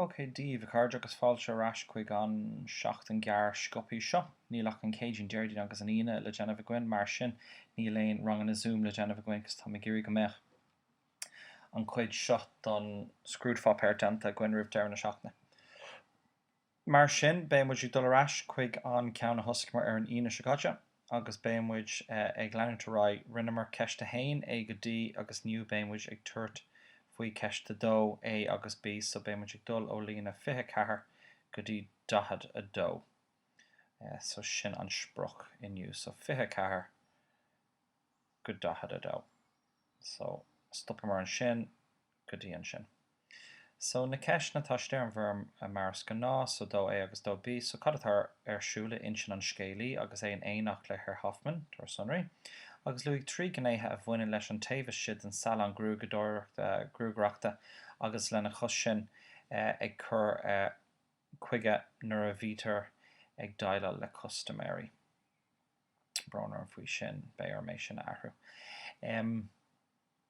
Haigh daoibh, a chairde, agus fáilte ar ais chuig an seachtain ghearr sciobtha seo. Níl ach an Céadaoin, Déardaoin agus an Aoine le déanamh againn, mar sin níl aon ranganna Zoom le déanamh againn agus táim ag iarraidh go mbeadh an chuid seo don scrúdpháipéar déanta againn roimh deireadh na seachtaine. Mar sin, beidh muid ag dul ar ais chuig an gceann a thosaíomar ar an Aoine seo caite agus beidh muid ag leanúint ar aghaidh. Rinneamar ceist a haon, A go D, agus inniu beidh muid ag tabhairt faoi cheist a dó, A agus B, so beidh muid ag dul ó líne 24 go dtí 42. So sin an sprioc inniu, so 24 go 42. So stopfaimid ansin. go dtí ansin. So, na ceisteanna, tá siad ar an bhfoirm mar is gnáth, so 2A agus 2B, so cad atá ar siúl in intinn an scéalaí agus é in éineacht le Herr Hoffmann? Tabhair sonraí. Agus luaigh trí ghnéithe a bhaineann leis an taobh istigh den salann gruagaireachta agus lena chois sin ag cur chuige nuair a bhítear ag déileáil le custaiméirí. Brón orm faoi sin, beidh orm é sin a athrú.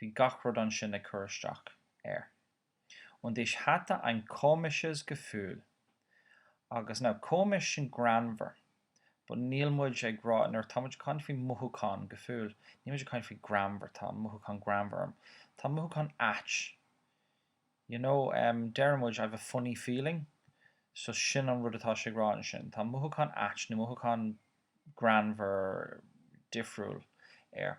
Bhí gach rud ansin ag cur isteach air. Und ich hatte ein komisches Gefühl. Agus, now, komisch sin greannmhar, but níl muid ag rá, nuair atá muid ag caint faoi mhothúchán, Gefühl, níl muid ag caint faoi greannmhar, tá an mothúchán greannmhar orm. Tá an mothúchán ait. You know, em, deireann muid I've a funny feeling. So sin an rud atá sé ag rá ansin. Tá mothúchán ait nó mothúchán greannmhar difriúil air.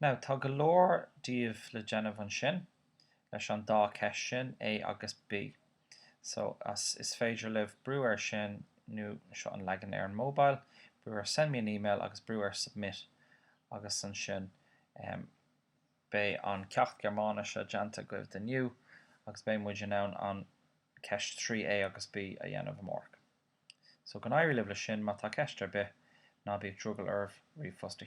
Now, tá go leor díobh le déanamh ansin leis an dá cheist sin, A agus B. So, arís is féidir libh brú ar sin nó, seo an leagan ar an mobile, brú ar send me an email agus brú ar submit agus ansin em beidh an ceacht Gearmáinise déanta agaibh do inniu agus beidh muid in ann an ceist 3 A agus B a dhéanamh amárach. So, go n-éirí libh leis sin, má tá ceist ar bith, ná bíodh drogall oraibh ríomhphost a